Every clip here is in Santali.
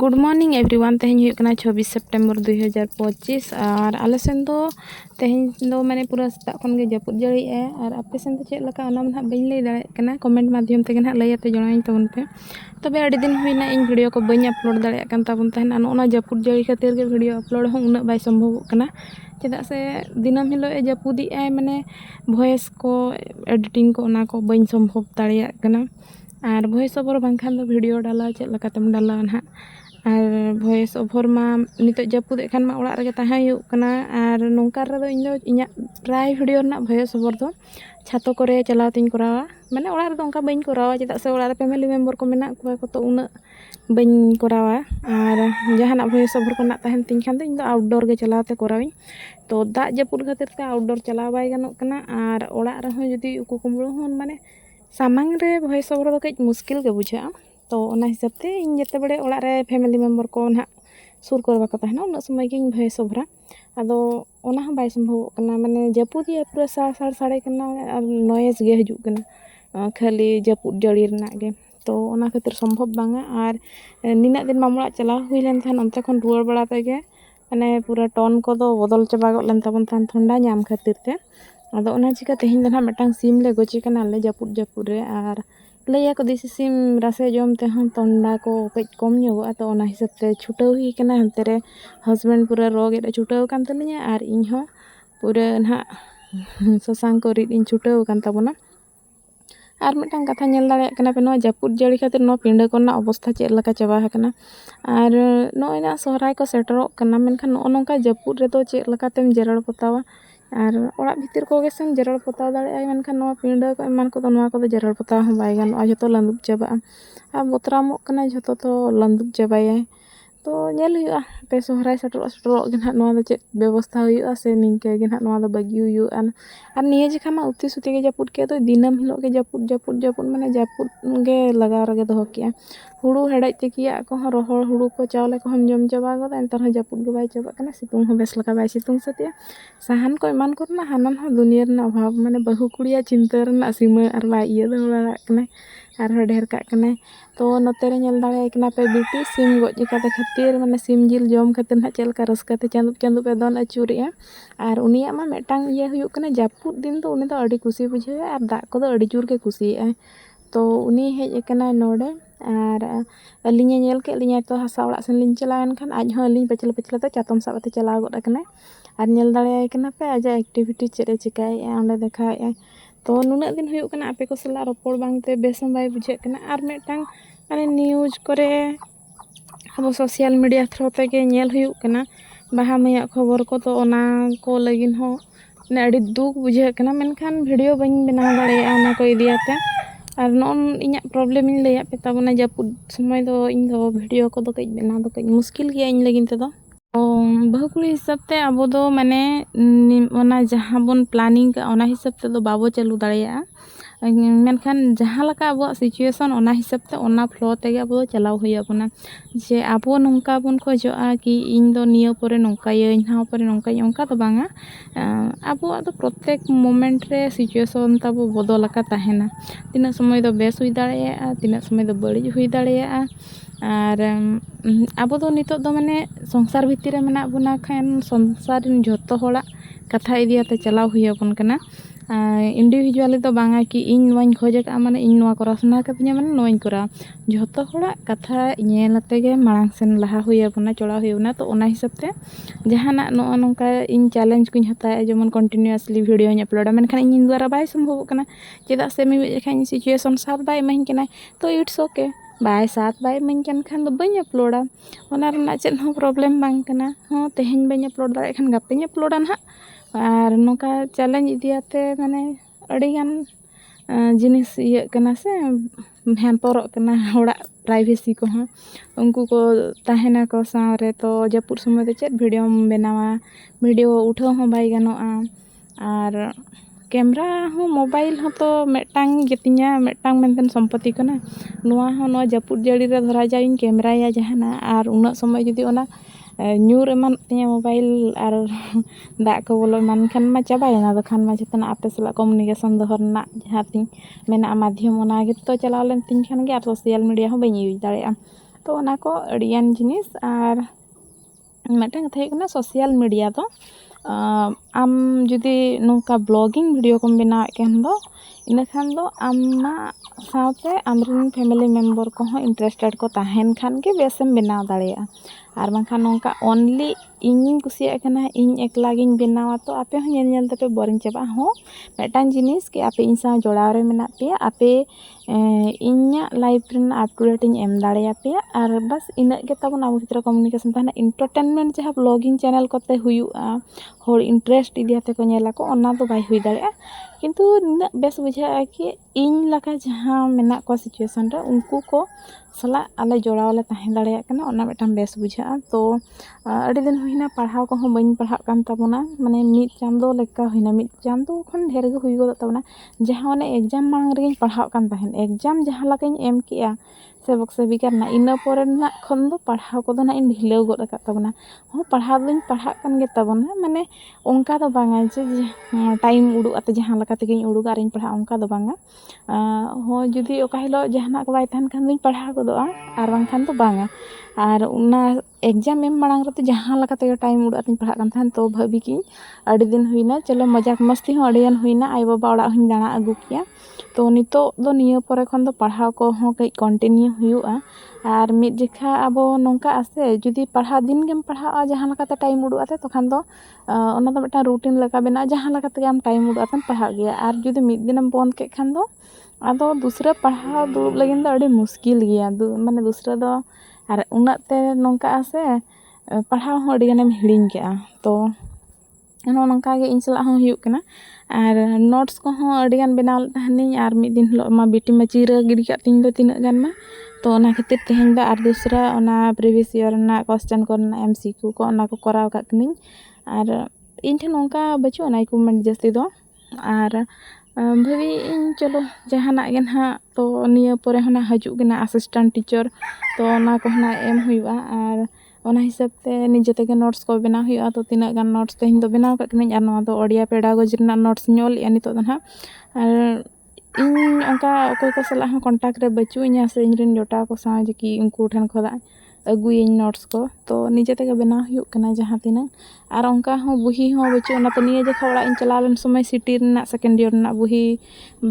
ᱜᱩᱰ ᱢᱚᱨᱱᱤᱝ ᱮᱵᱷᱨᱤᱣᱟᱱ ᱛᱮᱦᱮᱧ ᱦᱩᱭᱩᱜ ᱠᱟᱱᱟ ᱪᱷᱚᱵᱵᱤᱥ ᱥᱮᱯᱴᱮᱢᱵᱚᱨ ᱫᱩᱭ ᱦᱟᱡᱟᱨ ᱯᱚᱸᱪᱤᱥ ᱟᱨ ᱟᱞᱮ ᱥᱮᱱ ᱫᱚ ᱛᱮᱦᱮᱧ ᱫᱚ ᱢᱟᱱᱮ ᱯᱩᱨᱟᱹ ᱥᱮᱛᱟᱜ ᱠᱷᱚᱱ ᱜᱮ ᱡᱟᱹᱯᱩᱫ ᱡᱟᱹᱲᱤᱭᱮᱜᱼᱟᱭ ᱟᱨ ᱟᱯᱮ ᱥᱮᱱ ᱫᱚ ᱪᱮᱫ ᱞᱮᱠᱟ ᱚᱱᱟ ᱢᱟ ᱱᱟᱦᱟᱜ ᱵᱟᱹᱧ ᱞᱟᱹᱭ ᱫᱟᱲᱮᱭᱟᱜ ᱠᱟᱱᱟ ᱠᱚᱢᱮᱱᱴ ᱢᱟᱫᱽᱫᱷᱚᱢ ᱛᱮᱜᱮ ᱱᱟᱦᱟᱜ ᱞᱟᱹᱭ ᱟᱛᱮ ᱡᱚᱲᱟᱣᱟᱹᱧ ᱛᱟᱵᱚᱱ ᱯᱮ ᱛᱚᱵᱮ ᱟᱹᱰᱤ ᱫᱤᱱ ᱦᱩᱭᱱᱟ ᱤᱧ ᱵᱷᱤᱰᱭᱳ ᱠᱚ ᱵᱟᱹᱧ ᱟᱯᱞᱳᱰ ᱫᱟᱲᱮᱭᱟᱜ ᱠᱟᱱ ᱛᱟᱵᱚᱱ ᱛᱟᱦᱮᱱᱟ ᱱᱚᱜᱼᱚ ᱱᱚᱣᱟ ᱡᱟᱹᱯᱩᱫ ᱡᱟᱹᱲᱤ ᱠᱷᱟᱹᱛᱤᱨ ᱜᱮ ᱵᱷᱤᱰᱭᱳ ᱟᱯᱞᱳᱰ ᱦᱚᱸ ᱩᱱᱟᱹᱜ ᱵᱟᱭ ᱥᱚᱢᱵᱷᱚᱵᱚᱜ ᱠᱟᱱᱟ ᱪᱮᱫᱟᱜ ᱥᱮ ᱫᱤᱱᱟᱹᱢ ᱦᱤᱞᱳᱜ ᱮ ᱡᱟᱹᱯᱩᱫᱮᱜᱼᱟᱭ ᱢᱟᱱᱮ ᱵᱷᱚᱭᱮᱥ ᱠᱚ ᱮᱰᱤᱴᱤᱝ ᱠᱚ ᱚᱱᱟ ᱠᱚ ᱵᱟᱹᱧ ᱥᱚᱢᱵᱷᱚᱵ ᱫᱟᱲᱮᱭᱟᱜ ᱠᱟᱱᱟ ᱟᱨ ᱵᱷᱚᱭᱮᱥ ᱚᱵᱷᱟᱨ ᱵᱟᱝᱠᱷᱟᱱ ᱫᱚ ᱵᱷᱤᱰᱤᱭᱳ ᱰᱟᱞᱟᱣ ᱪᱮᱫ ᱞᱮᱠᱟᱛᱮᱢ ᱰᱟᱞᱟᱣᱟ ᱱᱟᱦᱟᱜ ᱟᱨ ᱵᱷᱚᱭᱮᱥ ᱚᱵᱷᱟᱨ ᱢᱟ ᱱᱤᱛᱚᱜ ᱡᱟᱹᱯᱩᱫᱮᱜ ᱠᱷᱟᱱ ᱢᱟ ᱚᱲᱟᱜ ᱨᱮᱜᱮ ᱛᱟᱦᱮᱸ ᱦᱩᱭᱩᱜ ᱠᱟᱱᱟ ᱟᱨ ᱱᱚᱝᱠᱟ ᱨᱮᱫᱚ ᱤᱧ ᱫᱚ ᱤᱧᱟᱹᱜ ᱯᱨᱟᱭ ᱵᱷᱤᱰᱤᱭᱳ ᱨᱮᱱᱟᱜ ᱵᱷᱚᱭᱮᱥ ᱚᱵᱷᱟᱨ ᱫᱚ ᱪᱷᱟᱛᱚ ᱠᱚᱨᱮ ᱪᱟᱞᱟᱣ ᱠᱟᱛᱮᱧ ᱠᱚᱨᱟᱣᱟ ᱢᱟᱱᱮ ᱚᱲᱟᱜ ᱨᱮᱫᱚ ᱚᱱᱠᱟ ᱵᱟᱹᱧ ᱠᱚᱨᱟᱣᱟ ᱪᱮᱫᱟᱜ ᱥᱮ ᱚᱲᱟᱜ ᱨᱮ ᱯᱷᱮᱢᱮᱞᱤ ᱢᱮᱢᱵᱟᱨ ᱠᱚ ᱢᱮᱱᱟᱜ ᱠᱚᱣᱟ ᱛᱚ ᱩᱱᱟᱹᱜ ᱵᱟᱹᱧ ᱠᱚᱨᱟᱣᱟ ᱟᱨ ᱡᱟᱦᱟᱱᱟᱜ ᱵᱷᱚᱭᱮᱥ ᱚᱵᱷᱟᱨ ᱠᱚᱨᱮᱱᱟᱜ ᱛᱟᱦᱮᱱ ᱛᱤᱧ ᱠᱷᱟᱱ ᱫᱚ ᱤᱧ ᱫᱚ ᱟᱣᱩᱴᱰᱳᱨ ᱜᱮ ᱪᱟᱞᱟᱣ ᱠᱟᱛᱮ ᱠᱚᱨᱟᱣ ᱟᱹᱧ ᱛᱚ ᱫᱟᱜ ᱡᱟᱹᱯᱩᱫ ᱠᱷᱟᱹᱛᱤᱨ ᱛᱮ ᱟᱣᱩᱴᱰᱳᱨ ᱪᱟᱞᱟᱣ ᱵᱟᱭ ᱜᱟᱱᱚᱜ ᱠᱟᱱᱟ ᱟᱨ ᱚᱲᱟᱜ ᱨᱮᱦᱚᱸ ᱡᱩᱫᱤ ᱩᱠᱩ ᱠᱩᱢᱵᱽᱲᱩ ᱦᱚᱸ ᱢᱟᱱᱮ ᱥᱟᱢᱟᱝ ᱨᱮ ᱵᱷᱚᱭᱮᱥ ᱚᱵᱷᱟᱨ ᱫᱚ ᱠᱟᱹᱡ ᱢᱩᱥᱠᱤᱞ ᱜᱮ ᱵᱩᱡᱷᱟᱹᱜᱼᱟ ᱛᱚ ᱚᱱᱟ ᱦᱤᱥᱟᱹᱵ ᱛᱮ ᱤᱧ ᱡᱮᱛᱮ ᱵᱟᱲᱮ ᱚᱲᱟᱜ ᱨᱮ ᱯᱷᱮᱢᱮᱞᱤ ᱢᱮᱢᱵᱟᱨ ᱠᱚ ᱱᱟᱦᱟᱜ ᱥᱩᱨ ᱠᱚᱨᱮ ᱵᱟᱠᱚ ᱛᱟᱦᱮᱱᱟ ᱩᱱᱟᱹᱜ ᱥᱚᱢᱚᱭ ᱜᱮᱧ ᱵᱷᱚᱭᱮᱥ ᱚᱵᱷᱟᱨᱟ ᱟᱫᱚ ᱚᱱᱟ ᱦᱚᱸ ᱵᱟᱭ ᱥᱚᱢᱵᱷᱚᱵᱚᱜ ᱠᱟᱱᱟ ᱢᱟᱱᱮ ᱡᱟᱹᱯᱩᱫ ᱮᱫᱟᱭ ᱯᱩᱨᱟᱹ ᱥᱟᱲ ᱥᱟᱲ ᱥᱟᱰᱮ ᱠᱟᱱᱟ ᱟᱨ ᱱᱚᱭᱮᱥ ᱜᱮ ᱦᱤᱡᱩᱜ ᱠᱟᱱᱟ ᱠᱷᱟᱹᱞᱤ ᱡᱟᱹᱯᱩᱫ ᱡᱟᱹᱲᱤ ᱨᱮᱱᱟᱜ ᱜᱮ ᱛᱚ ᱚᱱᱟ ᱠᱷᱟᱹᱛᱤᱨ ᱥᱚᱢᱵᱷᱚᱵ ᱵᱟᱝᱟ ᱟᱨ ᱱᱤᱱᱟᱹᱜ ᱫᱤᱱ ᱢᱟᱢᱚ ᱚᱲᱟᱜ ᱪᱟᱞᱟᱣ ᱦᱩᱭ ᱞᱮᱱ ᱛᱟᱦᱮᱱ ᱚᱱᱛᱮ ᱠᱷᱚᱱ ᱨᱩᱣᱟᱹᱲ ᱵᱟᱲᱟ ᱛᱮᱜᱮ ᱢᱟᱱᱮ ᱯᱩᱨᱟᱹ ᱴᱚᱱ ᱠᱚᱫᱚ ᱵᱚᱫᱚᱞ ᱪᱟᱵᱟ ᱜᱚᱫ ᱞᱮᱱ ᱛᱟᱵᱚᱱ ᱛᱟᱦᱮᱸᱫ ᱴᱷᱟᱱᱰᱟ ᱧᱟᱢ ᱠᱷᱟᱹᱛᱤᱨ ᱛᱮ ᱟᱫᱚ ᱚᱱᱟ ᱪᱤᱠᱟᱹ ᱛᱮᱦᱮᱧ ᱫᱚ ᱱᱟᱦᱟᱜ ᱢᱤᱫᱴᱟᱝ ᱥᱤᱢ ᱞᱮ ᱜᱚᱡᱮ ᱠᱟᱱᱟᱞᱮ ᱡᱟᱹᱯᱩᱫ ᱡᱟᱹᱯᱩᱫ ᱨᱮ ᱟᱨ ᱞᱟᱹᱭᱟᱠᱚ ᱫᱮᱥᱤ ᱥᱤᱢ ᱨᱟᱥᱮ ᱡᱚᱢ ᱛᱮᱦᱚᱸ ᱴᱷᱟᱱᱰᱟ ᱠᱚ ᱠᱟᱹᱡ ᱠᱚᱢ ᱧᱚᱜᱚᱜᱼᱟ ᱛᱚ ᱚᱱᱟ ᱦᱤᱥᱟᱹᱵ ᱛᱮ ᱪᱷᱩᱴᱟᱹᱣ ᱦᱩᱭ ᱠᱟᱱᱟ ᱦᱟᱱᱛᱮ ᱨᱮ ᱦᱟᱥᱵᱮᱱᱰ ᱯᱩᱨᱟᱹ ᱨᱚ ᱜᱮᱫ ᱮ ᱪᱷᱩᱴᱟᱹᱣ ᱟᱠᱟᱱ ᱛᱟᱹᱞᱤᱧᱟ ᱟᱨ ᱤᱧ ᱦᱚᱸ ᱯᱩᱨᱟᱹ ᱱᱟᱦᱟᱜ ᱥᱟᱥᱟᱝ ᱠᱚ ᱨᱤᱫ ᱤᱧ ᱪᱷᱩᱴᱟᱹᱣ ᱟᱠᱟᱱ ᱛᱟᱵᱚᱱᱟ ᱟᱨ ᱢᱤᱫᱴᱟᱝ ᱠᱟᱛᱷᱟ ᱧᱮᱞ ᱫᱟᱲᱮᱭᱟᱜ ᱠᱟᱱᱟ ᱯᱮ ᱱᱚᱣᱟ ᱡᱟᱹᱯᱩᱫ ᱡᱟᱹᱲᱤ ᱠᱷᱟᱹᱛᱤᱨ ᱱᱚᱣᱟ ᱯᱤᱰᱟᱹ ᱠᱚᱨᱮᱱᱟᱜ ᱚᱵᱚᱥᱛᱷᱟ ᱪᱮᱫ ᱞᱮᱠᱟ ᱪᱟᱵᱟ ᱟᱠᱟᱱᱟ ᱟᱨ ᱱᱚᱜᱼᱚᱭ ᱱᱟᱜ ᱥᱚᱨᱦᱟᱭ ᱠᱚ ᱥᱮᱴᱮᱨᱚᱜ ᱠᱟᱱᱟ ᱢᱮᱱᱠᱷᱟᱱ ᱱᱚᱜᱼᱚ ᱱᱚᱝᱠᱟ ᱡᱟᱹᱯᱩᱫ ᱨᱮᱫᱚ ᱪᱮᱫ ᱞᱮᱠᱟᱛᱮᱢ ᱡᱮᱨᱮᱲ ᱯᱚᱛᱟᱣᱟ ᱟᱨ ᱚᱲᱟᱜ ᱵᱷᱤᱛᱤᱨ ᱠᱚᱜᱮ ᱥᱮᱢ ᱡᱮᱨᱮᱲ ᱯᱚᱛᱟᱣ ᱫᱟᱲᱮᱭᱟᱜᱼᱟ ᱢᱮᱱᱠᱷᱟᱱ ᱱᱚᱣᱟ ᱯᱤᱰᱟᱹ ᱠᱚ ᱮᱢᱟᱱ ᱠᱚᱫᱚ ᱱᱚᱣᱟ ᱠᱚᱫᱚ ᱡᱮᱨᱮᱲ ᱯᱚᱛᱟᱣ ᱦᱚᱸ ᱵᱟᱭ ᱜᱟᱱᱚᱜᱼᱟ ᱡᱚᱛᱚ ᱞᱟᱹᱵᱤᱫ ᱪᱟᱵᱟᱜᱼᱟ ᱟᱨ ᱵᱚᱛᱚᱨᱟᱢᱚᱜ ᱠᱟᱱᱟ ᱡᱷᱚᱛᱚ ᱛᱚ ᱞᱟᱹᱵᱤᱫ ᱪᱟᱵᱟᱭᱟᱭ ᱛᱚ ᱧᱮᱞ ᱦᱩᱭᱩᱜᱼᱟ ᱦᱟᱯᱮ ᱥᱚᱦᱚᱨᱟᱭ ᱥᱮᱴᱮᱨᱚᱜ ᱥᱮᱴᱮᱨᱚᱜ ᱜᱮ ᱱᱟᱦᱟᱜ ᱱᱚᱣᱟ ᱫᱚ ᱪᱮᱫ ᱵᱮᱵᱚᱥᱛᱷᱟ ᱦᱩᱭᱩᱜᱼᱟ ᱥᱮ ᱱᱤᱝᱠᱟᱹ ᱜᱮ ᱱᱟᱦᱟᱜ ᱱᱚᱣᱟ ᱫᱚ ᱵᱟᱹᱜᱤ ᱦᱩᱭᱩᱜᱼᱟ ᱟᱨ ᱱᱤᱭᱟᱹ ᱡᱚᱠᱷᱟᱱ ᱢᱟ ᱩᱛᱤ ᱥᱩᱛᱤ ᱜᱮ ᱡᱟᱹᱯᱩᱫ ᱠᱮᱫ ᱫᱚᱭ ᱫᱤᱱᱟᱹᱢ ᱦᱤᱞᱳᱜ ᱜᱮ ᱡᱟᱹᱯᱩᱫ ᱡᱟᱹᱯᱩᱫ ᱡᱟᱹᱯᱩᱫ ᱢᱟᱱᱮ ᱡᱟᱹᱯᱩᱫ ᱜᱮ ᱞᱟᱜᱟᱣ ᱨᱮᱜᱮ ᱫᱚᱦᱚ ᱠᱮᱫᱼᱟᱭ ᱦᱩᱲᱩ ᱦᱮᱰᱮᱡ ᱛᱤᱠᱤᱭᱟᱜ ᱠᱚᱦᱚᱸ ᱨᱚᱦᱚᱲ ᱦᱩᱲᱩ ᱠᱚ ᱪᱟᱣᱞᱮ ᱠᱚᱦᱚᱸᱢ ᱡᱚᱢ ᱪᱟᱵᱟ ᱜᱚᱫᱟ ᱮᱱᱛᱮ ᱨᱮᱦᱚᱸ ᱡᱟᱹᱯᱩᱫ ᱜᱮ ᱵᱟᱭ ᱪᱟᱵᱟᱜ ᱠᱟᱱᱟ ᱥᱤᱛᱩᱝ ᱦᱚᱸ ᱵᱮᱥ ᱞᱮᱠᱟ ᱵᱟᱭ ᱥᱤᱛᱩᱝ ᱥᱟᱹᱛᱮᱜᱼᱟ ᱥᱟᱦᱟᱱ ᱠᱚ ᱮᱢᱟᱱ ᱠᱚᱨᱮᱱᱟᱜ ᱦᱟᱱᱟ ᱱᱟᱣᱟ ᱫᱩᱱᱤᱭᱟᱹ ᱨᱮᱱᱟᱜ ᱚᱵᱷᱟᱵᱽ ᱢᱟᱱᱮ ᱵᱟᱹᱦᱩ ᱠᱩᱲᱤᱭᱟᱜ ᱪᱤᱱᱛᱟᱹ ᱨᱮᱱᱟᱜ ᱥᱤᱢᱟᱹ ᱟᱨ ᱵᱟᱭ ᱤᱭᱟᱹ ᱫᱟᱲᱮᱭᱟᱜ ᱠᱟᱱᱟᱭ ᱟᱨᱦᱚᱸ ᱰᱷᱮᱨ ᱠᱟᱜ ᱠᱟᱱᱟᱭ ᱛᱚ ᱱᱚᱛᱮ ᱨᱮ ᱧᱮᱞ ᱫᱟᱲᱮᱭᱟᱭ ᱠᱟᱱᱟ ᱯᱮ ᱵᱤᱴᱤ ᱥᱤᱢ ᱜᱚᱡ ᱟᱠᱟᱫᱮ ᱠᱷᱟᱹᱛᱤᱨ ᱢᱟᱱᱮ ᱥᱤᱢ ᱡᱤᱞ ᱡᱚᱢ ᱠᱷᱟᱹᱛᱤᱨ ᱱᱟᱦᱟᱜ ᱪᱮᱫ ᱞᱮᱠᱟ ᱨᱟᱹᱥᱠᱟᱹ ᱛᱮ ᱪᱟᱹᱰᱩᱵ ᱪᱟᱹᱰᱩᱵ ᱮ ᱫᱚᱱ ᱟᱹᱪᱩᱨᱮᱜᱼᱟ ᱟᱨ ᱩᱱᱤᱭᱟᱜ ᱢᱟ ᱢᱤᱫᱴᱟᱝ ᱤᱭᱟᱹ ᱦᱩᱭᱩᱜ ᱠᱟᱱᱟ ᱡᱟᱹᱯᱩᱫ ᱫᱤᱱ ᱫᱚ ᱩᱱᱤ ᱫᱚ ᱟᱹᱰᱤ ᱠᱩᱥᱤ ᱵᱩᱡᱷᱟᱹᱣᱟᱭ ᱟᱨ ᱫᱟᱜ ᱠᱚᱫᱚ ᱟᱹᱰᱤ ᱡᱳᱨ ᱜᱮ ᱠᱩᱥᱤᱭᱟᱜ ᱟᱭ ᱛᱚ ᱩᱱᱤ ᱦᱮᱡ ᱟᱠᱟᱱᱟᱭ ᱱᱚᱰᱮ ᱟᱨ ᱟᱹᱞᱤᱧᱮ ᱧᱮᱞ ᱠᱮᱫ ᱞᱤᱧᱟᱹ ᱛᱚ ᱦᱟᱥᱟ ᱚᱲᱟᱜ ᱥᱮᱫ ᱞᱤᱧ ᱪᱟᱞᱟᱣ ᱮᱱ ᱠᱷᱟᱱ ᱟᱡ ᱦᱚᱸ ᱟᱹᱞᱤᱧ ᱯᱟᱪᱷᱞᱟ ᱯᱟᱪᱷᱞᱟ ᱛᱮ ᱪᱟᱛᱚᱢ ᱥᱟᱵ ᱠᱟᱛᱮᱫ ᱪᱟᱞᱟᱣ ᱜᱚᱫ ᱟᱠᱟᱱᱟᱭ ᱟᱨ ᱧᱮᱞ ᱫᱟᱲᱮᱭᱟᱭ ᱠᱟᱱᱟ ᱯᱮ ᱟᱡᱟᱜ ᱮᱠᱴᱤᱵᱷᱤᱴᱤ ᱪᱮᱫ ᱮ ᱪᱤᱠᱟᱹᱭᱮᱫᱼᱟ ᱚᱸᱰᱮ ᱫᱮᱠᱷᱟᱣᱮᱫ ᱟᱭ ᱛᱚ ᱱᱩᱱᱟᱹᱜ ᱫᱤᱱ ᱦᱩᱭᱩᱜ ᱠᱟᱱᱟ ᱟᱯᱮ ᱠᱚ ᱥᱟᱞᱟᱜ ᱨᱚᱯᱚᱲ ᱵᱟᱝᱛᱮ ᱵᱮᱥ ᱦᱚᱸ ᱵᱟᱭ ᱵᱩᱡᱷᱟᱹᱜ ᱠᱟᱱᱟ ᱟᱨ ᱢᱤᱫᱴᱟᱝ ᱢᱟᱱᱮ ᱱᱤᱭᱩᱡᱽ ᱠᱚᱨᱮ ᱟᱵᱚ ᱥᱳᱥᱟᱞ ᱢᱤᱰᱤᱭᱟ ᱛᱷᱨᱩ ᱛᱮᱜᱮ ᱧᱮᱞ ᱦᱩᱭᱩᱜ ᱠᱟᱱᱟ ᱵᱟᱦᱟ ᱢᱟᱹᱭᱟᱜ ᱠᱷᱚᱵᱚᱨ ᱠᱚ ᱛᱚ ᱚᱱᱟ ᱠᱚ ᱞᱟᱹᱜᱤᱫ ᱦᱚᱸ ᱢᱟᱱᱮ ᱟᱹᱰᱤ ᱫᱩᱠ ᱵᱩᱡᱷᱟᱹᱜ ᱠᱟᱱᱟ ᱢᱮᱱᱠᱷᱟᱱ ᱵᱷᱤᱰᱭᱳ ᱵᱟᱹᱧ ᱵᱮᱱᱟᱣ ᱫᱟᱲᱮᱭᱟᱜᱼᱟ ᱚᱱᱟ ᱠᱚ ᱤᱫᱤ ᱠᱟᱛᱮᱫ ᱟᱨ ᱱᱚᱜᱼᱚᱭ ᱤᱧᱟᱹᱜ ᱯᱨᱚᱵᱞᱮᱢ ᱤᱧ ᱞᱟᱹᱭᱟᱫ ᱯᱮ ᱛᱟᱵᱚᱱᱟ ᱡᱟᱹᱯᱩᱫ ᱥᱚᱢᱚᱭ ᱫᱚ ᱤᱧᱫᱚ ᱵᱷᱤᱰᱭᱳ ᱠᱚᱫᱚ ᱠᱟᱹᱡ ᱵᱮᱱᱟᱣ ᱫᱚ ᱠᱟᱹᱡ ᱢᱩᱥᱠᱤᱞ ᱜᱮᱭᱟ ᱤᱧ ᱞᱟᱹᱜᱤᱫ ᱛᱮᱫᱚ ᱚ ᱵᱟᱹᱦᱩ ᱠᱩᱲᱤ ᱦᱤᱥᱟᱹᱵ ᱛᱮ ᱟᱵᱚ ᱫᱚ ᱢᱟᱱᱮ ᱚᱱᱟ ᱡᱟᱦᱟᱸ ᱵᱚᱱ ᱯᱞᱮᱱᱤᱝ ᱠᱟᱜᱼᱟ ᱚᱱᱟ ᱦᱤᱥᱟᱹᱵ ᱛᱮᱫᱚ ᱵᱟᱵᱚ ᱪᱟᱹᱞᱩ ᱫᱟᱲᱮᱭᱟᱜᱼᱟ ᱢᱮᱱᱠᱷᱟᱱ ᱡᱟᱦᱟᱸ ᱞᱮᱠᱟ ᱟᱵᱚᱣᱟᱜ ᱥᱤᱪᱩᱭᱮᱥᱚᱱ ᱚᱱᱟ ᱦᱤᱥᱟᱹᱵ ᱛᱮ ᱚᱱᱟ ᱯᱷᱞᱳ ᱛᱮᱜᱮ ᱟᱵᱚ ᱫᱚ ᱪᱟᱞᱟᱣ ᱦᱩᱭ ᱟᱵᱚᱱᱟ ᱡᱮ ᱟᱵᱚ ᱱᱚᱝᱠᱟ ᱵᱚᱱ ᱠᱷᱚᱡᱚᱜᱼᱟ ᱠᱤ ᱤᱧ ᱫᱚ ᱱᱤᱭᱟᱹ ᱯᱚᱨᱮ ᱱᱚᱝᱠᱟᱭᱟᱹᱧ ᱱᱚᱣᱟ ᱯᱚᱨᱮ ᱱᱚᱝᱠᱟᱭᱟᱹᱧ ᱚᱱᱠᱟ ᱫᱚ ᱵᱟᱝᱟ ᱟᱵᱚᱣᱟᱜ ᱫᱚ ᱯᱨᱚᱛᱮᱠ ᱢᱳᱢᱮᱱᱴ ᱨᱮ ᱥᱤᱪᱩᱭᱮᱥᱚᱱ ᱛᱟᱵᱚ ᱵᱚᱫᱚᱞ ᱟᱠᱟ ᱛᱟᱦᱮᱱᱟ ᱛᱤᱱᱟᱹᱜ ᱥᱚᱢᱚᱭ ᱫᱚ ᱵᱮᱥ ᱦᱩᱭ ᱫᱟᱲᱮᱭᱟᱜᱼᱟ ᱛᱤᱱᱟᱹᱜ ᱥᱚᱢᱚᱭ ᱫᱚ ᱵᱟᱹᱲᱤᱡ ᱦᱩᱭ ᱫᱟᱲᱮᱭᱟᱜᱼᱟ ᱟᱨ ᱟᱵᱚ ᱫᱚ ᱱᱤᱛᱚᱜ ᱫᱚ ᱢᱟᱱᱮ ᱥᱚᱝᱥᱟᱨ ᱵᱷᱤᱛᱤᱨ ᱨᱮ ᱢᱮᱱᱟᱜ ᱵᱚᱱᱟ ᱠᱷᱟᱱ ᱥᱚᱝᱥᱟᱨ ᱨᱮᱱ ᱡᱷᱚᱛᱚ ᱦᱚᱲᱟᱜ ᱠᱟᱛᱷᱟ ᱤᱫᱤ ᱠᱟᱛᱮ ᱪᱟᱞᱟᱣ ᱦᱩᱭ ᱟᱵᱚᱱ ᱠᱟᱱᱟ ᱟᱨ ᱤᱱᱰᱤᱵᱷᱤᱡᱩᱣᱟᱞᱤ ᱫᱚ ᱵᱟᱝᱟ ᱠᱤ ᱤᱧ ᱱᱚᱣᱟᱧ ᱠᱷᱚᱡᱽ ᱠᱟᱜᱼᱟ ᱢᱟᱱᱮ ᱤᱧ ᱱᱚᱣᱟ ᱠᱚᱨᱟᱣ ᱥᱟᱱᱟ ᱠᱟᱫᱤᱧᱟ ᱢᱟᱱᱮ ᱱᱚᱣᱟᱧ ᱠᱚᱨᱟᱣᱟ ᱡᱷᱚᱛᱚ ᱦᱚᱲᱟᱜ ᱠᱟᱛᱷᱟ ᱧᱮᱞ ᱠᱟᱛᱮ ᱜᱮ ᱢᱟᱲᱟᱝ ᱥᱮᱱ ᱞᱟᱦᱟ ᱦᱩᱭ ᱟᱵᱚᱱᱟ ᱪᱟᱞᱟᱣ ᱦᱩᱭ ᱟᱵᱚᱱᱟ ᱛᱚ ᱚᱱᱟ ᱦᱤᱥᱟᱹᱵ ᱛᱮ ᱡᱟᱦᱟᱱᱟᱜ ᱱᱚᱜᱼᱚᱭ ᱱᱚᱝᱠᱟ ᱤᱧ ᱪᱮᱞᱮᱧᱡᱽ ᱠᱚᱧ ᱦᱟᱛᱟᱣᱮᱜᱼᱟ ᱡᱮᱢᱚᱱ ᱠᱚᱱᱴᱤᱱᱤᱭᱩᱣᱟᱥᱞᱤ ᱵᱷᱤᱰᱤᱭᱳᱧ ᱟᱯᱞᱳᱰᱟ ᱢᱮᱱᱠᱷᱟᱱ ᱤᱧ ᱫᱚᱣᱟᱨᱟ ᱵᱟᱭ ᱥᱚᱢᱵᱷᱚᱵᱚᱜ ᱠᱟᱱᱟ ᱪᱮᱫᱟᱜ ᱥᱮ ᱢᱤᱢᱤᱫ ᱡᱚᱠᱷᱟᱡ ᱤᱧ ᱥᱤᱪᱩᱭᱮᱥᱚᱱ ᱥᱟᱛᱷ ᱵᱟᱭ ᱤᱢᱟᱹᱧ ᱠᱟᱱᱟ ᱛᱚ ᱤᱴᱥ ᱳᱠᱮ ᱵᱟᱭ ᱥᱟᱛᱷ ᱵᱟᱭ ᱤᱢᱟᱹᱧ ᱠᱟᱱ ᱠᱷᱟᱱ ᱫᱚ ᱵᱟᱹᱧ ᱟᱯᱞᱳᱰᱟ ᱚᱱᱟ ᱨᱮᱱᱟᱜ ᱪᱮᱫ ᱦᱚᱸ ᱯᱨᱚᱵᱞᱮᱢ ᱵᱟᱝ ᱠᱟᱱᱟ ᱦᱚᱸ ᱛᱮᱦᱮᱧ ᱵᱟᱹᱧ ᱟᱯᱞᱳᱰ ᱫᱟᱲᱮᱭᱟᱜ ᱠᱷᱟᱱ ᱜᱟᱯᱟᱧ ᱟᱯᱞᱳᱰᱟ ᱱᱟᱦᱟᱜ ᱟᱨ ᱱᱚᱝᱠᱟ ᱪᱮᱞᱮᱧᱡᱽ ᱤᱫᱤᱭᱟᱛᱮ ᱢᱟᱱᱮ ᱟᱹᱰᱤᱜᱟᱱ ᱡᱤᱱᱤᱥ ᱤᱭᱟᱹᱜ ᱠᱟᱱᱟ ᱥᱮ ᱦᱮᱢᱯᱟᱨᱚᱜ ᱠᱟᱱᱟ ᱦᱚᱲᱟᱜ ᱯᱨᱟᱭᱵᱷᱮᱥᱤ ᱠᱚᱦᱚᱸ ᱩᱱᱠᱩ ᱠᱚ ᱛᱟᱦᱮᱱᱟᱠᱚ ᱥᱟᱶᱨᱮ ᱛᱚ ᱡᱟᱹᱯᱩᱫ ᱥᱚᱢᱚᱭ ᱫᱚ ᱪᱮᱫ ᱵᱷᱤᱰᱤᱭᱳᱢ ᱵᱮᱱᱟᱣᱟ ᱵᱷᱤᱰᱤᱭᱳ ᱩᱴᱷᱟᱹᱣ ᱦᱚᱸ ᱵᱟᱭ ᱜᱟᱱᱚᱜᱼᱟ ᱟᱨ ᱠᱮᱢᱮᱨᱟ ᱦᱚᱸ ᱢᱳᱵᱟᱭᱤᱞ ᱦᱚᱸᱛᱚ ᱢᱤᱫᱴᱟᱝ ᱜᱮᱛᱤᱧᱟ ᱢᱤᱫᱴᱟᱝ ᱢᱮᱱᱛᱮ ᱥᱚᱢᱯᱚᱛᱛᱤ ᱠᱟᱱᱟ ᱱᱚᱣᱟ ᱦᱚᱸ ᱱᱚᱣᱟ ᱡᱟᱹᱯᱩᱫ ᱡᱟᱹᱲᱤ ᱨᱮ ᱫᱷᱚᱨᱟ ᱡᱟᱠ ᱤᱧ ᱠᱮᱢᱮᱨᱟᱭᱟ ᱡᱟᱦᱟᱱᱟᱜ ᱟᱨ ᱩᱱᱟᱹᱜ ᱥᱚᱢᱚᱭ ᱡᱩᱫᱤ ᱚᱱᱟ ᱧᱩᱨ ᱮᱢᱟᱱᱚᱜ ᱛᱤᱧᱟᱹ ᱢᱳᱵᱟᱭᱤᱞ ᱟᱨ ᱫᱟᱜ ᱠᱚ ᱵᱚᱞᱚ ᱮᱢᱟᱱ ᱞᱮᱱᱠᱷᱟᱱ ᱢᱟ ᱪᱟᱵᱟᱭᱮᱱᱟ ᱵᱟᱠᱷᱟᱱ ᱢᱟ ᱡᱚᱛᱚᱱᱟᱜ ᱟᱯᱮ ᱥᱟᱞᱟᱜ ᱠᱚᱢᱤᱱᱤᱠᱮᱥᱚᱱ ᱫᱚᱦᱚ ᱨᱮᱱᱟᱜ ᱡᱟᱦᱟᱸ ᱛᱤᱧ ᱢᱮᱱᱟᱜᱼᱟ ᱢᱟᱫᱽᱫᱷᱚᱢ ᱚᱱᱟ ᱜᱮᱛᱚ ᱪᱟᱞᱟᱣ ᱞᱮᱱ ᱛᱤᱧ ᱠᱷᱟᱱ ᱜᱮ ᱟᱨ ᱥᱳᱥᱟᱞ ᱢᱤᱰᱤᱭᱟ ᱦᱚᱸ ᱵᱟᱹᱧ ᱤᱭᱩᱡᱽ ᱫᱟᱲᱮᱭᱟᱜᱼᱟ ᱛᱳ ᱚᱱᱟ ᱠᱚ ᱟᱹᱰᱤᱜᱟᱱ ᱡᱤᱱᱤᱥ ᱟᱨ ᱢᱤᱫᱴᱟᱝ ᱠᱟᱛᱷᱟ ᱦᱩᱭᱩᱜ ᱠᱟᱱᱟ ᱥᱳᱥᱟᱞ ᱢᱤᱰᱤᱭᱟ ᱫᱚ ᱟᱢ ᱡᱩᱫᱤ ᱱᱚᱝᱠᱟ ᱵᱞᱚᱜᱤᱝ ᱵᱷᱤᱰᱭᱳ ᱠᱚᱢ ᱵᱮᱱᱟᱣᱮᱫ ᱠᱷᱟᱱ ᱫᱚ ᱤᱱᱟᱹ ᱠᱷᱟᱱ ᱫᱚ ᱟᱢᱟᱜ ᱥᱟᱶᱛᱮ ᱟᱢ ᱨᱮᱱ ᱯᱷᱮᱢᱮᱞᱤ ᱢᱮᱢᱵᱚᱨ ᱠᱚᱦᱚᱸ ᱤᱱᱴᱟᱨᱮᱥᱴᱮᱰ ᱠᱚ ᱛᱟᱦᱮᱱ ᱠᱷᱟᱱ ᱜᱮ ᱵᱮᱥ ᱮᱢ ᱵᱮᱱᱟᱣ ᱫᱟᱲᱮᱭᱟᱜᱼᱟ ᱟᱨ ᱵᱟᱝᱠᱷᱟᱱ ᱱᱚᱝᱠᱟ ᱚᱱᱞᱤ ᱤᱧᱤᱧ ᱠᱩᱥᱤᱭᱟᱜ ᱠᱟᱱᱟ ᱤᱧ ᱮᱠᱞᱟ ᱜᱤᱧ ᱵᱮᱱᱟᱣᱟ ᱛᱚ ᱟᱯᱮ ᱦᱚᱸ ᱧᱮᱞ ᱧᱮᱞ ᱛᱮᱯᱮ ᱵᱳᱨᱤᱝ ᱪᱟᱵᱟᱜᱼᱟ ᱦᱚᱸ ᱢᱤᱫᱴᱟᱝ ᱡᱤᱱᱤᱥ ᱠᱤ ᱟᱯᱮ ᱤᱧ ᱥᱟᱶ ᱡᱚᱲᱟᱣ ᱨᱮ ᱢᱮᱱᱟᱜ ᱯᱮᱭᱟ ᱟᱯᱮ ᱤᱧᱟᱹᱜ ᱞᱟᱭᱤᱯ ᱨᱮᱱᱟᱜ ᱟᱯᱴᱩᱰᱮᱴ ᱤᱧ ᱮᱢ ᱫᱟᱲᱮᱭᱟᱯᱮᱭᱟ ᱟᱨ ᱵᱟᱥ ᱤᱱᱟᱹᱜ ᱜᱮ ᱛᱟᱵᱚᱱ ᱟᱵᱚ ᱵᱷᱤᱛᱨᱤ ᱨᱮ ᱠᱚᱢᱤᱱᱤᱠᱮᱥᱚᱱ ᱛᱟᱦᱮᱱᱟ ᱤᱱᱴᱟᱨᱴᱮᱱᱢᱮᱱᱴ ᱡᱟᱦᱟᱸ ᱵᱞᱚᱜᱤᱝ ᱪᱮᱱᱮᱞ ᱠᱚᱛᱮ ᱦᱩᱭᱩᱜᱼᱟ ᱦᱚᱲ ᱤᱱᱴᱟᱨᱮᱥᱴ ᱤᱫᱤ ᱠᱟᱛᱮ ᱠᱚ ᱧᱮᱞᱟᱠᱚ ᱚᱱᱟ ᱫᱚ ᱵᱟᱭ ᱦᱩᱭ ᱫᱟᱲᱮᱭᱟᱜᱼᱟ ᱠᱤᱱᱛᱩ ᱱᱤᱱᱟᱹᱜ ᱵᱮᱥ ᱵᱩᱡᱷᱟᱹᱜᱼᱟ ᱠᱤ ᱤᱧ ᱞᱮᱠᱟ ᱡᱟᱦᱟᱸ ᱢᱮᱱᱟᱜ ᱠᱚᱣᱟ ᱥᱤᱪᱩᱭᱮᱥᱚᱱ ᱨᱮ ᱩᱱᱠᱩ ᱠᱚ ᱥᱟᱞᱟᱜ ᱟᱞᱮ ᱡᱚᱲᱟᱣ ᱞᱮ ᱛᱟᱦᱮᱸ ᱫᱟᱲᱮᱭᱟᱜ ᱠᱟᱱᱟ ᱚᱱᱟ ᱢᱤᱫᱴᱟᱝ ᱵᱮᱥ ᱵᱩᱡᱷᱟᱹᱜᱼᱟ ᱛᱚ ᱟᱹᱰᱤ ᱫᱤᱱ ᱦᱩᱭᱱᱟ ᱯᱟᱲᱦᱟᱣ ᱠᱚᱦᱚᱸ ᱵᱟᱹᱧ ᱯᱟᱲᱦᱟᱜ ᱠᱟᱱ ᱛᱟᱵᱚᱱᱟ ᱢᱟᱱᱮ ᱢᱤᱫ ᱪᱟᱸᱫᱚ ᱞᱮᱠᱟ ᱦᱩᱭᱱᱟ ᱢᱤᱫ ᱪᱟᱸᱫᱚ ᱠᱷᱚᱱ ᱰᱷᱮᱨ ᱜᱮ ᱦᱩᱭ ᱜᱚᱫᱚᱜ ᱛᱟᱵᱚᱱᱟ ᱡᱟᱦᱟᱸ ᱚᱱᱮ ᱮᱠᱡᱟᱢ ᱢᱟᱲᱟᱝ ᱨᱮᱜᱤᱧ ᱯᱟᱲᱦᱟᱜ ᱠᱟᱱ ᱛᱟᱦᱮᱱ ᱮᱠᱡᱟᱢ ᱡᱟᱦᱟᱸ ᱞᱮᱠᱟᱧ ᱮᱢ ᱠᱮᱜᱼᱟ ᱥᱮ ᱵᱚᱠᱥ ᱵᱷᱤᱛᱤᱨ ᱨᱮᱱᱟᱜ ᱤᱱᱟᱹ ᱯᱚᱨᱮ ᱨᱮᱱᱟᱜ ᱠᱷᱚᱱ ᱫᱚ ᱯᱟᱲᱦᱟᱣ ᱠᱚᱫᱚ ᱦᱟᱸᱜ ᱤᱧ ᱰᱷᱤᱞᱟᱹᱣ ᱜᱚᱫ ᱟᱠᱟᱫ ᱛᱟᱵᱚᱱᱟ ᱦᱚᱸ ᱯᱟᱲᱦᱟᱣ ᱫᱚᱧ ᱯᱟᱲᱦᱟᱜ ᱠᱟᱱ ᱜᱮᱛᱟᱵᱚᱱᱟ ᱢᱟᱱᱮ ᱚᱱᱠᱟ ᱫᱚ ᱵᱟᱝᱟ ᱡᱮ ᱴᱟᱭᱤᱢ ᱩᱰᱩᱠ ᱠᱟᱛᱮᱫ ᱡᱟᱦᱟᱸ ᱞᱮᱠᱟ ᱛᱮᱜᱮᱧ ᱩᱰᱩᱠᱟ ᱟᱨᱤᱧ ᱯᱟᱲᱦᱟᱜᱼᱟ ᱚᱱᱠᱟ ᱫᱚ ᱵᱟᱝᱟ ᱦᱚᱸ ᱡᱩᱫᱤ ᱚᱠᱟ ᱦᱤᱞᱳᱜ ᱡᱟᱦᱟᱱᱟᱜ ᱠᱚ ᱵᱟᱭ ᱛᱟᱦᱮᱱ ᱠᱷᱟᱱ ᱫᱚᱧ ᱯᱟᱲᱦᱟᱣ ᱜᱚᱫᱚᱜᱼᱟ ᱟᱨ ᱵᱟᱝᱠᱷᱟᱱ ᱫᱚ ᱵᱟᱝᱟ ᱟᱨ ᱚᱱᱟ ᱮᱠᱡᱟᱢ ᱮᱢ ᱢᱟᱲᱟᱝ ᱨᱮᱫᱚ ᱡᱟᱦᱟᱸ ᱞᱮᱠᱟ ᱛᱮᱜᱮ ᱴᱟᱭᱤᱢ ᱩᱰᱩᱠ ᱠᱟᱛᱮᱧ ᱯᱟᱲᱦᱟᱜ ᱠᱟᱱ ᱛᱟᱦᱮᱱ ᱛᱚ ᱵᱷᱟᱹᱵᱤ ᱠᱮᱜ ᱟᱹᱧ ᱟᱹᱰᱤ ᱫᱤᱱ ᱦᱩᱭᱱᱟ ᱪᱚᱞᱚ ᱢᱚᱡᱟ ᱢᱚᱥᱛᱤ ᱦᱚᱸ ᱟᱹᱰᱤᱜᱟᱱ ᱦᱩᱭᱱᱟ ᱟᱭᱳ ᱵᱟᱵᱟ ᱚᱲᱟᱜ ᱦᱚᱸᱧ ᱫᱟᱬᱟ ᱟᱹᱜᱩ ᱠᱮᱭᱟ ᱛᱚ ᱱᱤᱛᱚᱜ ᱫᱚ ᱱᱤᱭᱟᱹ ᱯᱚᱨᱮ ᱠᱷᱚᱱ ᱫᱚ ᱯᱟᱲᱦᱟᱣ ᱠᱚᱦᱚᱸ ᱠᱟᱹᱡ ᱠᱚᱱᱴᱤᱱᱤᱭᱩ ᱦᱩᱭᱩᱜᱼᱟ ᱟᱨ ᱢᱤᱫ ᱡᱚᱠᱷᱟᱡ ᱟᱵᱚ ᱱᱚᱝᱠᱟᱜ ᱟᱥᱮ ᱡᱩᱫᱤ ᱯᱟᱲᱦᱟᱣ ᱫᱤᱱ ᱜᱮᱢ ᱯᱟᱲᱦᱟᱜᱼᱟ ᱡᱟᱦᱟᱸ ᱞᱮᱠᱟᱛᱮ ᱴᱟᱭᱤᱢ ᱩᱰᱩᱠ ᱠᱟᱛᱮ ᱛᱚᱠᱷᱚᱱ ᱫᱚ ᱚᱱᱟ ᱫᱚ ᱢᱤᱫᱴᱟᱝ ᱨᱩᱴᱤᱱ ᱞᱮᱠᱟ ᱵᱮᱱᱟᱜᱼᱟ ᱡᱟᱦᱟᱸ ᱞᱮᱠᱟ ᱛᱮᱜᱮ ᱟᱢ ᱴᱟᱭᱤᱢ ᱩᱰᱩᱠ ᱠᱟᱛᱮᱢ ᱯᱟᱲᱦᱟᱜ ᱜᱮᱭᱟ ᱟᱨ ᱡᱩᱫᱤ ᱢᱤᱫ ᱫᱤᱱᱮᱢ ᱵᱚᱱᱫᱽ ᱠᱮᱫ ᱠᱷᱟᱱ ᱫᱚ ᱟᱫᱚ ᱫᱩᱥᱨᱟᱹ ᱯᱟᱲᱦᱟᱣ ᱫᱩᱲᱩᱵ ᱞᱟᱹᱜᱤᱫ ᱫᱚ ᱟᱹᱰᱤ ᱢᱩᱥᱠᱤᱞ ᱜᱮᱭᱟ ᱢᱟᱱᱮ ᱫᱩᱥᱨᱟᱹ ᱫᱚ ᱟᱨ ᱩᱱᱟᱹᱜ ᱛᱮ ᱱᱚᱝᱠᱟᱜᱼᱟ ᱥᱮ ᱯᱟᱲᱦᱟᱣ ᱦᱚᱸ ᱟᱹᱰᱤ ᱜᱟᱱᱮᱢ ᱦᱤᱲᱤᱧ ᱠᱟᱜᱼᱟ ᱛᱚ ᱱᱚᱜᱼᱚ ᱱᱚᱝᱠᱟ ᱜᱮ ᱤᱧ ᱥᱟᱞᱟᱜ ᱦᱚᱸ ᱦᱩᱭᱩᱜ ᱠᱟᱱᱟ ᱟᱨ ᱱᱳᱴᱥ ᱠᱚᱦᱚᱸ ᱟᱹᱰᱤᱜᱟᱱ ᱵᱮᱱᱟᱣ ᱞᱮᱫ ᱛᱟᱦᱮᱱᱤᱧ ᱟᱨ ᱢᱤᱫ ᱫᱤᱱ ᱦᱤᱞᱳᱜ ᱢᱟ ᱵᱤᱴᱤ ᱢᱟ ᱪᱤᱨᱟᱹ ᱜᱤᱰᱤ ᱠᱟᱜ ᱛᱤᱧ ᱫᱚᱭ ᱛᱤᱱᱟᱹᱜ ᱜᱟᱱ ᱢᱟ ᱛᱚ ᱚᱱᱟ ᱠᱷᱟᱹᱛᱤᱨ ᱛᱮᱦᱮᱧ ᱫᱚ ᱟᱨ ᱫᱚᱥᱨᱟ ᱚᱱᱟ ᱯᱨᱤᱵᱷᱤᱭᱟᱥ ᱤᱭᱟᱨ ᱨᱮᱱᱟᱜ ᱠᱚᱥᱪᱟᱱ ᱠᱚᱨᱮᱱᱟᱜ ᱮᱢ ᱥᱤ ᱠᱤᱭᱩ ᱠᱚ ᱚᱱᱟ ᱠᱚ ᱠᱚᱨᱟᱣ ᱠᱟᱜ ᱠᱟᱹᱱᱟᱹᱧ ᱟᱨ ᱤᱧ ᱴᱷᱮᱱ ᱚᱱᱠᱟ ᱵᱟᱹᱪᱩᱜ ᱟᱱᱟ ᱤᱠᱩᱭᱤᱯᱢᱮᱱᱴ ᱡᱟᱹᱥᱛᱤ ᱫᱚ ᱟᱨ ᱵᱷᱟᱹᱵᱤᱭᱮᱫ ᱟᱹᱧ ᱪᱚᱞᱚ ᱡᱟᱦᱟᱱᱟᱜ ᱜᱮ ᱦᱟᱸᱜ ᱛᱚ ᱱᱤᱭᱟᱹ ᱯᱚᱨᱮ ᱦᱚᱸ ᱦᱟᱸᱜ ᱦᱤᱡᱩᱜ ᱠᱟᱱᱟ ᱮᱥᱤᱥᱴᱮᱱᱴ ᱴᱤᱪᱟᱨ ᱛᱚ ᱚᱱᱟ ᱠᱚᱦᱚᱸ ᱮᱢ ᱦᱩᱭᱩᱜᱼᱟ ᱟᱨ ᱚᱱᱟ ᱦᱤᱥᱟᱹᱵ ᱛᱮ ᱱᱤᱡᱮ ᱛᱮᱜᱮ ᱱᱳᱴᱥ ᱠᱚ ᱵᱮᱱᱟᱣ ᱦᱩᱭᱩᱜᱼᱟ ᱛᱚ ᱛᱤᱱᱟᱹᱜ ᱜᱟᱱ ᱱᱳᱴᱥ ᱛᱮᱦᱮᱧ ᱫᱚ ᱵᱮᱱᱟᱣ ᱠᱟᱜ ᱠᱟᱹᱱᱟᱹᱧ ᱟᱨ ᱱᱚᱣᱟ ᱫᱚ ᱳᱰᱤᱭᱟ ᱯᱮᱰᱟᱜᱚᱡᱽ ᱨᱮᱱᱟᱜ ᱱᱳᱴᱥ ᱤᱧ ᱚᱞᱮᱜᱼᱟ ᱱᱤᱛᱚᱜ ᱫᱚ ᱦᱟᱸᱜ ᱟᱨ ᱤᱧ ᱚᱱᱠᱟ ᱚᱠᱚᱭ ᱠᱚ ᱥᱟᱞᱟᱜ ᱦᱚᱸ ᱠᱚᱱᱴᱟᱠᱴ ᱨᱮ ᱵᱟᱹᱪᱩᱜ ᱤᱧᱟᱹ ᱥᱮ ᱤᱧ ᱨᱮᱱ ᱡᱚᱴᱟᱣ ᱠᱚ ᱥᱟᱶ ᱡᱮᱠᱤ ᱩᱱᱠᱩ ᱴᱷᱮᱱ ᱠᱷᱚᱱᱟᱜ ᱟᱹᱜᱩᱭᱟᱹᱧ ᱱᱳᱴᱥ ᱠᱚ ᱛᱚ ᱱᱤᱡᱮ ᱛᱮᱜᱮ ᱵᱮᱱᱟᱣ ᱦᱩᱭᱩᱜ ᱠᱟᱱᱟ ᱡᱟᱦᱟᱸ ᱛᱤᱱᱟᱹᱜ ᱟᱨ ᱚᱱᱠᱟ ᱦᱚᱸ ᱵᱩᱦᱤ ᱦᱚᱸ ᱵᱟᱹᱪᱩᱜᱼᱟ ᱚᱱᱟᱛᱮ ᱱᱤᱭᱟᱹ ᱡᱚᱠᱷᱚᱱ ᱚᱲᱟᱜ ᱤᱧ ᱪᱟᱞᱟᱣ ᱞᱮᱱ ᱥᱚᱢᱚᱭ ᱥᱤᱴᱤ ᱨᱮᱱᱟᱜ ᱥᱮᱠᱮᱱᱰ ᱤᱭᱟᱨ ᱨᱮᱱᱟᱜ ᱵᱩᱦᱤ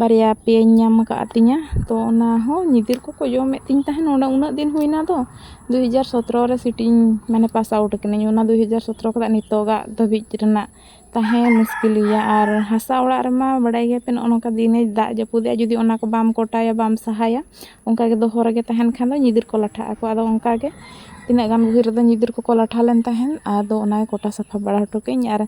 ᱵᱟᱨᱭᱟ ᱯᱮᱭᱟᱧ ᱧᱟᱢ ᱟᱠᱟᱫ ᱛᱤᱧᱟᱹ ᱛᱚ ᱚᱱᱟ ᱦᱚᱸ ᱧᱤᱫᱤᱨ ᱠᱚᱠᱚ ᱡᱚᱢᱮᱫ ᱛᱤᱧ ᱛᱟᱦᱮᱱ ᱚᱱᱟ ᱩᱱᱟᱹᱜ ᱫᱤᱱ ᱦᱩᱭᱱᱟ ᱛᱚ ᱫᱩ ᱦᱟᱡᱟᱨ ᱥᱚᱛᱨᱚ ᱨᱮ ᱥᱤᱴᱤᱧ ᱢᱟᱱᱮ ᱯᱟᱥ ᱟᱣᱩᱴ ᱠᱟᱹᱱᱟᱹᱧ ᱚᱱᱟ ᱫᱩ ᱦᱟᱡᱟᱨ ᱥᱚᱛᱨᱚ ᱠᱷᱚᱱᱟᱜ ᱱᱤᱛᱚᱜᱟᱜ ᱫᱷᱟᱹᱵᱤᱡ ᱨᱮᱱᱟᱜ ᱛᱟᱦᱮᱸ ᱢᱩᱥᱠᱤᱞ ᱜᱮᱭᱟ ᱟᱨ ᱦᱟᱥᱟ ᱚᱲᱟᱜ ᱨᱮᱢᱟ ᱵᱟᱲᱟᱭ ᱜᱮᱭᱟᱯᱮ ᱱᱚᱜᱼᱚ ᱱᱚᱝᱠᱟ ᱫᱤᱱᱮ ᱫᱟᱜ ᱡᱟᱹᱯᱩᱫᱮᱜᱼᱟ ᱡᱩᱫᱤ ᱚᱱᱟ ᱠᱚ ᱵᱟᱢ ᱠᱚᱴᱟᱭᱟ ᱵᱟᱢ ᱥᱟᱦᱟᱭᱟ ᱚᱱᱠᱟ ᱜᱮ ᱫᱚᱦᱚ ᱨᱮᱜᱮ ᱛᱟᱦᱮᱱ ᱠᱷᱟᱱ ᱫᱚ ᱧᱤᱫᱤᱨ ᱠᱚ ᱞᱟᱴᱷᱟᱜ ᱟᱠᱚ ᱟᱫᱚ ᱚᱱᱠᱟ ᱜᱮ ᱛᱤᱱᱟᱹᱜ ᱜᱟᱱ ᱵᱷᱤᱲ ᱨᱮᱫᱚ ᱧᱤᱫᱤᱨ ᱠᱚᱠᱚ ᱞᱟᱴᱷᱟ ᱞᱮᱱ ᱛᱟᱦᱮᱱ ᱟᱫᱚ ᱚᱱᱟ ᱜᱮ ᱠᱚᱴᱟ ᱥᱟᱯᱷᱟ ᱵᱟᱲᱟ ᱦᱚᱴᱚ ᱠᱟᱜ ᱟᱹᱧ ᱟᱨ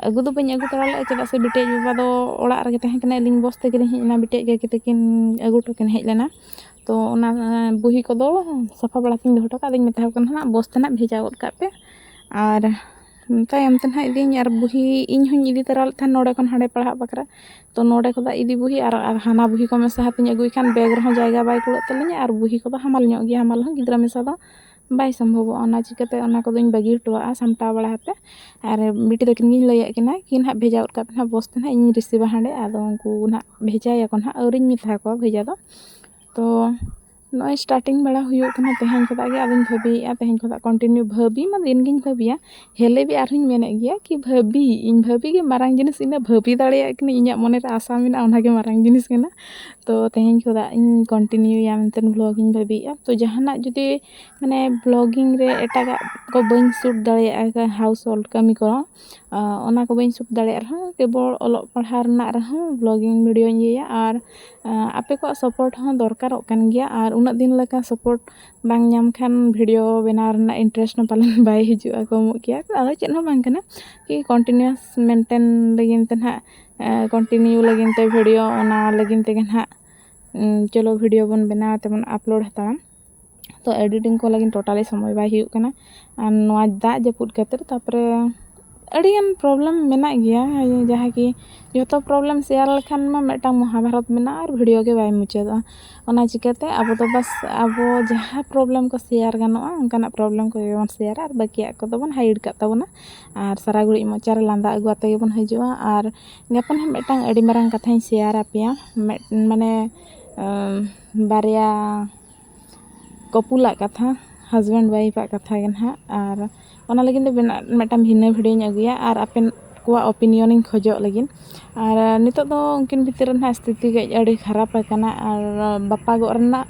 ᱟᱹᱜᱩ ᱫᱚ ᱵᱟᱹᱧ ᱟᱹᱜᱩ ᱛᱚᱨᱟ ᱞᱮᱫᱼᱟ ᱪᱮᱫᱟᱜ ᱥᱮ ᱵᱤᱴᱤ ᱟᱡ ᱵᱟᱵᱟ ᱫᱚ ᱚᱲᱟᱜ ᱨᱮᱜᱮ ᱛᱟᱦᱮᱸ ᱠᱟᱱᱟᱭ ᱟᱹᱞᱤᱧ ᱵᱚᱥ ᱛᱮᱜᱮ ᱞᱤᱧ ᱦᱮᱡ ᱮᱱᱟ ᱵᱤᱴᱤ ᱟᱡ ᱜᱚᱜᱚ ᱛᱟᱹᱠᱤᱱ ᱟᱹᱜᱩ ᱦᱚᱴᱚ ᱠᱤᱱ ᱦᱮᱡ ᱞᱮᱱᱟ ᱛᱚ ᱚᱱᱟ ᱵᱩᱦᱤ ᱠᱚᱫᱚ ᱥᱟᱯᱷᱟ ᱵᱟᱲᱟ ᱠᱟᱛᱮᱧ ᱫᱚᱦᱚ ᱦᱚᱴᱚ ᱠᱟᱜᱼᱟ ᱟᱫᱚᱧ ᱢᱮᱛᱟᱣ ᱠᱚ ᱠᱟᱱᱟ ᱦᱟᱸᱜ ᱵᱚᱥ ᱛᱮ ᱱᱟᱦᱟᱜ ᱵᱷᱮᱡᱟ ᱜᱚᱫ ᱠᱟᱜ ᱯᱮ ᱟᱨ ᱛᱟᱭᱚᱢ ᱛᱮ ᱱᱟᱦᱟᱜ ᱤᱫᱤᱭᱟᱹᱧ ᱟᱨ ᱵᱩᱦᱤ ᱤᱧ ᱦᱚᱸᱧ ᱤᱫᱤ ᱛᱚᱨᱟ ᱞᱮᱫ ᱛᱟᱦᱮᱱ ᱱᱚᱰᱮ ᱠᱷᱚᱱ ᱦᱟᱸᱰᱮ ᱯᱟᱲᱦᱟᱜ ᱵᱟᱠᱷᱨᱟ ᱛᱚ ᱱᱚᱰᱮ ᱠᱷᱚᱱᱟᱜ ᱤᱫᱤ ᱵᱩᱦᱤ ᱟᱨ ᱦᱟᱱᱟ ᱵᱩᱦᱤ ᱠᱚ ᱢᱮᱥᱟ ᱠᱟᱛᱮᱧ ᱟᱹᱜᱩᱭ ᱠᱷᱟᱱ ᱵᱮᱜᱽ ᱨᱮᱦᱚᱸ ᱡᱟᱭᱜᱟ ᱵᱟᱭ ᱠᱩᱲᱟᱹᱜ ᱛᱟᱹᱞᱤᱧᱟ ᱟᱨ ᱵᱩᱦᱤ ᱠᱚᱫᱚ ᱦᱟᱢᱟᱞ ᱧᱚᱜ ᱜᱮᱭᱟ ᱦᱟᱢᱟᱞ ᱦᱚᱸ ᱜᱤᱫᱽᱨᱟᱹ ᱢᱮᱥᱟ ᱫᱚ ᱵᱟᱭ ᱥᱚᱢᱵᱷᱚᱵᱚᱜᱼᱟ ᱚᱱᱟ ᱪᱤᱠᱟᱹᱛᱮ ᱚᱱᱟ ᱠᱚᱫᱚᱧ ᱵᱟᱹᱜᱤ ᱦᱚᱴᱚᱣᱟᱜᱼᱟ ᱥᱟᱢᱴᱟᱣ ᱵᱟᱲᱟ ᱠᱟᱛᱮ ᱟᱨ ᱵᱤᱴᱤ ᱛᱟᱹᱠᱤᱱ ᱜᱤᱧ ᱞᱟᱹᱭᱟᱫ ᱠᱤᱱᱟ ᱠᱤ ᱱᱟᱦᱟᱜ ᱵᱷᱮᱡᱟ ᱜᱚᱫ ᱠᱟᱜ ᱯᱮ ᱱᱟᱦᱟᱜ ᱵᱚᱥ ᱛᱮ ᱱᱟᱦᱟᱜ ᱤᱧᱤᱧ ᱨᱤᱥᱤᱵᱷᱟ ᱦᱟᱸᱰᱮ ᱟᱫᱚ ᱩᱱᱠᱩ ᱱᱟᱦᱟᱜ ᱵᱷᱮᱡᱟᱭᱟᱠᱚ ᱱᱟᱦᱟᱜ ᱟᱹᱣᱨᱤᱧ ᱢᱮᱛᱟ ᱠᱚᱣᱟ ᱵᱷᱮᱡᱟ ᱫᱚ ᱛᱚ ᱱᱚᱜᱼᱚᱭ ᱥᱴᱟᱨᱴᱤᱝ ᱵᱟᱲᱟ ᱦᱩᱭᱩᱜ ᱠᱟᱱᱟ ᱛᱮᱦᱮᱧ ᱠᱷᱚᱱᱟᱜ ᱜᱮ ᱟᱫᱚᱧ ᱵᱷᱟᱹᱵᱤᱭᱮᱫᱼᱟ ᱛᱮᱦᱮᱧ ᱠᱷᱚᱱᱟᱜ ᱠᱚᱱᱴᱤᱱᱤᱭᱩ ᱵᱷᱟᱹᱵᱤ ᱢᱟ ᱫᱤᱱ ᱜᱤᱧ ᱵᱷᱟᱹᱵᱤᱭᱟ ᱦᱮᱞᱮ ᱜᱮ ᱟᱨᱦᱚᱸᱧ ᱢᱮᱱᱮᱫ ᱜᱮᱭᱟ ᱠᱤ ᱵᱷᱟᱹᱵᱤ ᱤᱧ ᱵᱷᱟᱹᱵᱤ ᱜᱮ ᱢᱟᱨᱟᱝ ᱡᱤᱱᱤᱥ ᱤᱧ ᱫᱚ ᱵᱷᱟᱹᱵᱤ ᱫᱟᱲᱮᱭᱟᱜ ᱠᱟᱹᱱᱟᱹᱧ ᱤᱧᱟᱹᱜ ᱢᱚᱱᱮ ᱨᱮ ᱟᱥᱟ ᱢᱮᱱᱟᱜᱼᱟ ᱚᱱᱟ ᱜᱮ ᱢᱟᱨᱟᱝ ᱡᱤᱱᱤᱥ ᱠᱟᱱᱟ ᱛᱚ ᱛᱮᱦᱮᱧ ᱠᱷᱚᱱᱟᱜ ᱤᱧ ᱠᱚᱱᱴᱤᱱᱤᱭᱩᱭᱟ ᱢᱮᱱᱛᱮ ᱵᱷᱞᱚᱜᱽ ᱤᱧ ᱵᱷᱟᱹᱵᱤᱭᱮᱫᱼᱟ ᱛᱚ ᱡᱟᱦᱟᱱᱟᱜ ᱡᱩᱫᱤ ᱢᱟᱱᱮ ᱵᱷᱞᱚᱜᱤᱝ ᱨᱮ ᱮᱴᱟᱜᱟᱜ ᱠᱚ ᱵᱟᱹᱧ ᱥᱩᱴ ᱫᱟᱲᱮᱭᱟᱜᱼᱟ ᱦᱟᱣᱩᱥ ᱦᱳᱞᱰ ᱠᱟᱹᱢᱤ ᱠᱚ ᱚᱱᱟ ᱠᱚ ᱵᱟᱹᱧ ᱥᱩᱴ ᱫᱟᱲᱮᱭᱟᱜ ᱨᱮᱦᱚᱸ ᱠᱮᱵᱚᱞ ᱚᱞᱚᱜ ᱯᱟᱲᱦᱟᱣ ᱨᱮᱱᱟᱜ ᱨᱮᱦᱚᱸ ᱵᱞᱚᱜᱤᱝ ᱵᱷᱤᱰᱭᱳᱧ ᱤᱭᱟᱹᱭᱟ ᱟᱨ ᱟᱯᱮ ᱠᱚᱣᱟᱜ ᱥᱟᱯᱳᱨᱴ ᱦᱚᱸ ᱫᱚᱨᱠᱟᱨᱚᱜ ᱠᱟᱱ ᱜᱮᱭᱟ ᱟᱨ ᱩᱱᱟᱹᱜ ᱫᱤᱱ ᱞᱮᱠᱟ ᱥᱟᱯᱳᱨᱴ ᱵᱟᱝ ᱧᱟᱢ ᱠᱷᱟᱱ ᱵᱷᱤᱰᱭᱳ ᱵᱮᱱᱟᱣ ᱨᱮᱱᱟᱜ ᱤᱱᱴᱟᱨᱮᱥᱴ ᱦᱚᱸ ᱯᱟᱞᱮᱱ ᱵᱟᱭ ᱦᱤᱡᱩᱜᱼᱟ ᱠᱚᱢᱚᱜ ᱜᱮᱭᱟ ᱟᱫᱚ ᱪᱮᱫ ᱦᱚᱸ ᱵᱟᱝ ᱠᱟᱱᱟ ᱠᱤ ᱠᱚᱱᱴᱤᱱᱤᱭᱩᱣᱟᱥ ᱢᱮᱱᱴᱮᱱ ᱞᱟᱹᱜᱤᱫ ᱛᱮ ᱦᱟᱸᱜ ᱠᱚᱱᱴᱤᱱᱤᱭᱩ ᱞᱟᱹᱜᱤᱫ ᱛᱮ ᱵᱷᱤᱰᱭᱳ ᱚᱱᱟ ᱞᱟᱹᱜᱤᱫ ᱛᱮᱜᱮ ᱦᱟᱸᱜ ᱪᱚᱞᱚ ᱵᱷᱤᱰᱭᱳ ᱵᱚᱱ ᱵᱮᱱᱟᱣ ᱛᱮᱵᱚᱱ ᱟᱯᱞᱳᱰ ᱦᱟᱛᱟᱲᱟ ᱛᱚ ᱮᱰᱤᱴᱤᱝ ᱠᱚ ᱞᱟᱹᱜᱤᱫ ᱴᱳᱴᱟᱞᱤ ᱥᱚᱢᱚᱭ ᱵᱟᱭ ᱦᱩᱭᱩᱜ ᱠᱟᱱᱟ ᱟᱨ ᱱᱚᱣᱟ ᱫᱟᱜ ᱡᱟᱹᱯᱩᱫ ᱠᱷᱟᱹᱛᱤᱨ ᱛᱟᱨᱯᱚᱨᱮ ᱟᱹᱰᱤᱜᱟᱱ ᱯᱨᱚᱵᱞᱮᱢ ᱢᱮᱱᱟᱜ ᱜᱮᱭᱟ ᱡᱟᱦᱟᱸ ᱠᱤ ᱡᱚᱛᱚ ᱯᱨᱚᱵᱞᱮᱢ ᱥᱮᱭᱟᱨ ᱞᱮᱠᱷᱟᱱ ᱢᱟ ᱢᱤᱫᱴᱟᱝ ᱢᱚᱦᱟᱵᱷᱟᱨᱚᱛ ᱢᱮᱱᱟᱜᱼᱟ ᱟᱨ ᱵᱷᱤᱰᱤᱭᱳ ᱜᱮ ᱵᱟᱭ ᱢᱩᱪᱟᱹᱫᱚᱜᱼᱟ ᱚᱱᱟ ᱪᱤᱠᱟᱹᱛᱮ ᱟᱵᱚ ᱫᱚ ᱵᱟᱥ ᱟᱵᱚ ᱡᱟᱦᱟᱸ ᱯᱨᱚᱵᱞᱮᱢ ᱠᱚ ᱥᱮᱭᱟᱨ ᱜᱟᱱᱚᱜᱼᱟ ᱚᱱᱠᱟᱱᱟᱜ ᱯᱨᱚᱵᱞᱮᱢ ᱠᱚᱜᱮ ᱵᱚᱱ ᱥᱮᱭᱟᱨᱟ ᱟᱨ ᱵᱟᱹᱠᱤᱭᱟᱜ ᱠᱚᱫᱚ ᱵᱚᱱ ᱦᱟᱭᱤᱰ ᱠᱟᱜ ᱛᱟᱵᱚᱱᱟ ᱟᱨ ᱥᱟᱨᱟ ᱜᱷᱟᱹᱲᱤᱡ ᱢᱚᱪᱟ ᱨᱮ ᱞᱟᱸᱫᱟ ᱟᱹᱜᱩ ᱠᱟᱛᱮᱫ ᱜᱮᱵᱚᱱ ᱦᱤᱡᱩᱜᱼᱟ ᱟᱨ ᱜᱟᱯᱟ ᱦᱟᱸᱜ ᱢᱤᱫᱴᱟᱝ ᱟᱹᱰᱤ ᱢᱟᱨᱟᱝ ᱠᱟᱛᱷᱟᱧ ᱥᱮᱭᱟᱨᱟᱯᱮᱭᱟ ᱢᱟᱱᱮ ᱵᱟᱨᱭᱟ ᱠᱚᱯᱩᱞᱟᱜ ᱠᱟᱛᱷᱟ ᱦᱟᱡᱽᱵᱮᱱᱰ ᱚᱣᱟᱭᱤᱯᱷ ᱟᱜ ᱠᱟᱛᱷᱟ ᱜᱮ ᱱᱟᱦᱟᱜ ᱟᱨ ᱚᱱᱟ ᱞᱟᱹᱜᱤᱫ ᱫᱚ ᱢᱤᱫᱴᱟᱝ ᱵᱷᱤᱱᱟᱹ ᱵᱷᱤᱰᱭᱳᱧ ᱟᱹᱜᱩᱭᱟ ᱟᱨ ᱟᱯᱮ ᱠᱚᱣᱟᱜ ᱳᱯᱤᱱᱤᱭᱚᱱ ᱤᱧ ᱠᱷᱚᱡᱚᱜ ᱞᱟᱹᱜᱤᱫ ᱟᱨ ᱱᱤᱛᱚᱜ ᱫᱚ ᱩᱱᱠᱤᱱ ᱵᱷᱤᱛᱤᱨ ᱨᱮ ᱱᱟᱦᱟᱜ ᱥᱛᱷᱤᱛᱤ ᱠᱟᱹᱡ ᱟᱹᱰᱤ ᱠᱷᱟᱨᱟᱯ ᱟᱠᱟᱱᱟ ᱟᱨ ᱵᱟᱯᱟᱜᱚᱜ ᱨᱮᱱᱟᱜ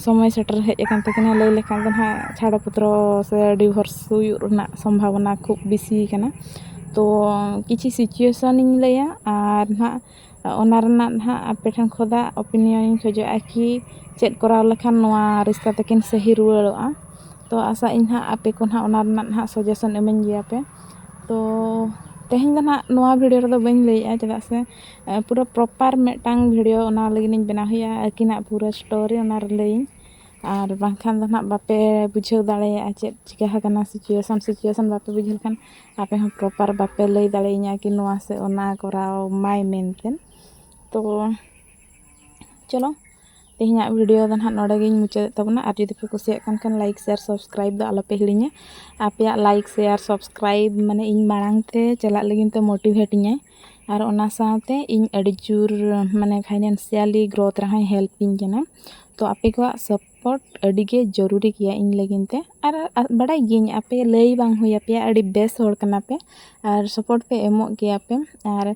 ᱥᱚᱢᱚᱭ ᱥᱮᱴᱮᱨ ᱦᱮᱡ ᱟᱠᱟᱱ ᱛᱟᱹᱠᱤᱱᱟ ᱞᱟᱹᱭ ᱞᱮᱠᱷᱟᱱ ᱫᱚ ᱱᱟᱦᱟᱜ ᱪᱷᱟᱲᱟ ᱯᱚᱛᱨᱚ ᱥᱮ ᱰᱤᱵᱷᱳᱨᱥ ᱦᱩᱭᱩᱜ ᱨᱮᱱᱟᱜ ᱥᱚᱢᱵᱷᱚᱵᱚᱱᱟ ᱠᱷᱩᱵ ᱵᱮᱥᱤᱭᱟᱠᱟᱱᱟ ᱛᱚ ᱠᱤᱪᱷᱩ ᱥᱤᱪᱩᱭᱮᱥᱚᱱ ᱤᱧ ᱞᱟᱹᱭᱟ ᱟᱨ ᱱᱟᱦᱟᱜ ᱚᱱᱟ ᱨᱮᱱᱟᱜ ᱦᱟᱸᱜ ᱟᱯᱮ ᱴᱷᱮᱱ ᱠᱷᱚᱱᱟᱜ ᱳᱯᱤᱱᱤᱭᱚᱱ ᱤᱧ ᱠᱷᱚᱡᱚᱜᱼᱟ ᱠᱤ ᱪᱮᱫ ᱠᱚᱨᱟᱣ ᱞᱮᱠᱷᱟᱱ ᱱᱚᱣᱟ ᱨᱤᱥᱛᱟ ᱛᱟᱹᱠᱤᱱ ᱥᱟᱹᱦᱤ ᱨᱩᱣᱟᱹᱲᱚᱜᱼᱟ ᱛᱚ ᱟᱥᱟᱜ ᱟᱹᱧ ᱦᱟᱸᱜ ᱟᱯᱮ ᱠᱚ ᱦᱟᱸᱜ ᱚᱱᱟ ᱨᱮᱱᱟᱜ ᱦᱟᱸᱜ ᱥᱟᱡᱮᱥᱚᱱ ᱤᱢᱟᱹᱧ ᱜᱮᱭᱟ ᱯᱮ ᱛᱚ ᱛᱮᱦᱮᱧ ᱫᱚ ᱦᱟᱸᱜ ᱱᱚᱣᱟ ᱵᱷᱤᱰᱤᱭᱳ ᱨᱮᱫᱚ ᱵᱟᱹᱧ ᱞᱟᱹᱭᱮᱜᱼᱟ ᱪᱮᱫᱟᱜ ᱥᱮ ᱯᱩᱨᱟᱹ ᱯᱨᱚᱯᱟᱨ ᱢᱤᱫᱴᱟᱝ ᱵᱷᱤᱰᱤᱭᱳ ᱚᱱᱟ ᱞᱟᱹᱜᱤᱫ ᱤᱧ ᱵᱮᱱᱟᱣ ᱦᱩᱭᱩᱜᱼᱟ ᱟᱹᱠᱤᱱᱟᱜ ᱯᱩᱨᱟᱹ ᱥᱴᱳᱨᱤ ᱚᱱᱟ ᱨᱮ ᱞᱟᱹᱭᱟᱹᱧ ᱟᱨ ᱵᱟᱝᱠᱷᱟᱱ ᱫᱚ ᱦᱟᱸᱜ ᱵᱟᱯᱮ ᱵᱩᱡᱷᱟᱹᱣ ᱫᱟᱲᱮᱭᱟᱜᱼᱟ ᱪᱮᱫ ᱪᱤᱠᱟᱹ ᱟᱠᱟᱱᱟ ᱥᱤᱪᱩᱭᱮᱥᱚᱱ ᱥᱤᱪᱩᱭᱮᱥᱚᱱ ᱵᱟᱯᱮ ᱵᱩᱡᱷᱟᱹᱣ ᱞᱮᱠᱷᱟᱱ ᱟᱯᱮ ᱦᱚᱸ ᱯᱨᱚᱯᱟᱨ ᱵᱟᱯᱮ ᱞᱟᱹᱭ ᱫᱟᱲᱮᱭᱟᱹᱧᱟᱹ ᱠᱤ ᱱᱚᱣᱟ ᱥᱮ ᱚᱱᱟ ᱠᱚᱨᱟᱣ ᱢᱟᱭ ᱢᱮᱱᱛᱮ ᱛᱚ ᱪᱚᱞᱚ ᱛᱮᱦᱮᱧᱟᱜ ᱵᱷᱤᱰᱤᱭᱳ ᱫᱚ ᱱᱟᱦᱟᱜ ᱱᱚᱰᱮ ᱜᱤᱧ ᱢᱩᱪᱟᱹᱫᱮᱫ ᱛᱟᱵᱚᱱᱟ ᱟᱨ ᱡᱩᱫᱤ ᱯᱮ ᱠᱩᱥᱤᱭᱟᱜ ᱠᱟᱱ ᱠᱷᱟᱱ ᱞᱟᱭᱤᱠ ᱥᱮᱭᱟᱨ ᱥᱟᱵᱥᱠᱨᱟᱭᱤᱵᱽ ᱫᱚ ᱟᱞᱚᱯᱮ ᱦᱤᱲᱤᱧᱟ ᱟᱯᱮᱭᱟᱜ ᱞᱟᱭᱤᱠ ᱥᱮᱭᱟᱨ ᱥᱟᱵᱥᱠᱨᱟᱭᱤᱵᱽ ᱢᱟᱱᱮ ᱤᱧ ᱢᱟᱲᱟᱝ ᱛᱮ ᱪᱟᱞᱟᱜ ᱞᱟᱹᱜᱤᱫ ᱛᱮ ᱢᱳᱴᱤᱵᱷᱮᱴ ᱤᱧᱟᱹᱭ ᱟᱨ ᱚᱱᱟ ᱥᱟᱶᱛᱮ ᱤᱧ ᱟᱹᱰᱤ ᱡᱳᱨ ᱢᱟᱱᱮ ᱯᱷᱟᱭᱱᱟᱱᱥᱤᱭᱟᱞᱤ ᱜᱨᱳᱛᱷ ᱨᱮᱦᱚᱸᱭ ᱦᱮᱞᱯ ᱤᱧ ᱠᱟᱱᱟ ᱛᱚ ᱟᱯᱮ ᱠᱚᱣᱟᱜ ᱯᱟᱥᱯᱳᱨᱴ ᱟᱹᱰᱤ ᱜᱮ ᱡᱟᱹᱨᱩᱨᱤ ᱜᱮᱭᱟ ᱤᱧ ᱞᱟᱹᱜᱤᱫ ᱛᱮ ᱟᱨ ᱵᱟᱰᱟᱭ ᱜᱤᱭᱟᱹᱧ ᱟᱯᱮ ᱞᱟᱹᱭ ᱵᱟᱝ ᱦᱩᱭ ᱟᱯᱮᱭᱟ ᱟᱹᱰᱤ ᱵᱮᱥ ᱦᱚᱲ ᱠᱟᱱᱟ ᱯᱮ ᱟᱨ ᱥᱟᱯᱳᱨᱴ ᱯᱮ ᱮᱢᱚᱜ ᱜᱮᱭᱟ ᱯᱮ ᱟᱨ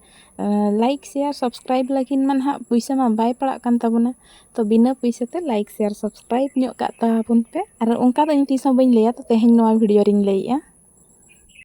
ᱞᱟᱭᱤᱠ ᱥᱮᱭᱟᱨ ᱥᱟᱵᱥᱠᱨᱟᱭᱤᱵᱽ ᱞᱟᱹᱜᱤᱫ ᱢᱟ ᱦᱟᱸᱜ ᱯᱩᱭᱥᱟᱹ ᱢᱟ ᱵᱟᱭ ᱯᱟᱲᱟᱜ ᱠᱟᱱ ᱛᱟᱵᱚᱱᱟ ᱛᱚ ᱵᱤᱱᱟᱹ ᱯᱩᱭᱥᱟᱹ ᱛᱮ ᱞᱟᱭᱤᱠ ᱥᱮᱭᱟᱨ ᱥᱟᱵᱥᱠᱨᱟᱭᱤᱵᱽ ᱧᱚᱜ ᱠᱟᱜ ᱛᱟᱵᱚᱱ ᱯᱮ ᱟᱨ ᱚᱱᱠᱟ ᱫᱚ ᱤᱧ ᱛᱤᱥ ᱦᱚᱸ ᱵᱟᱹᱧ ᱞᱟᱹᱭᱟ ᱛᱮᱦᱮᱧ ᱱᱚᱣᱟ ᱵᱷᱤᱰᱤᱭᱳ ᱨᱤᱧ ᱞᱟᱹᱭᱮᱜᱼᱟ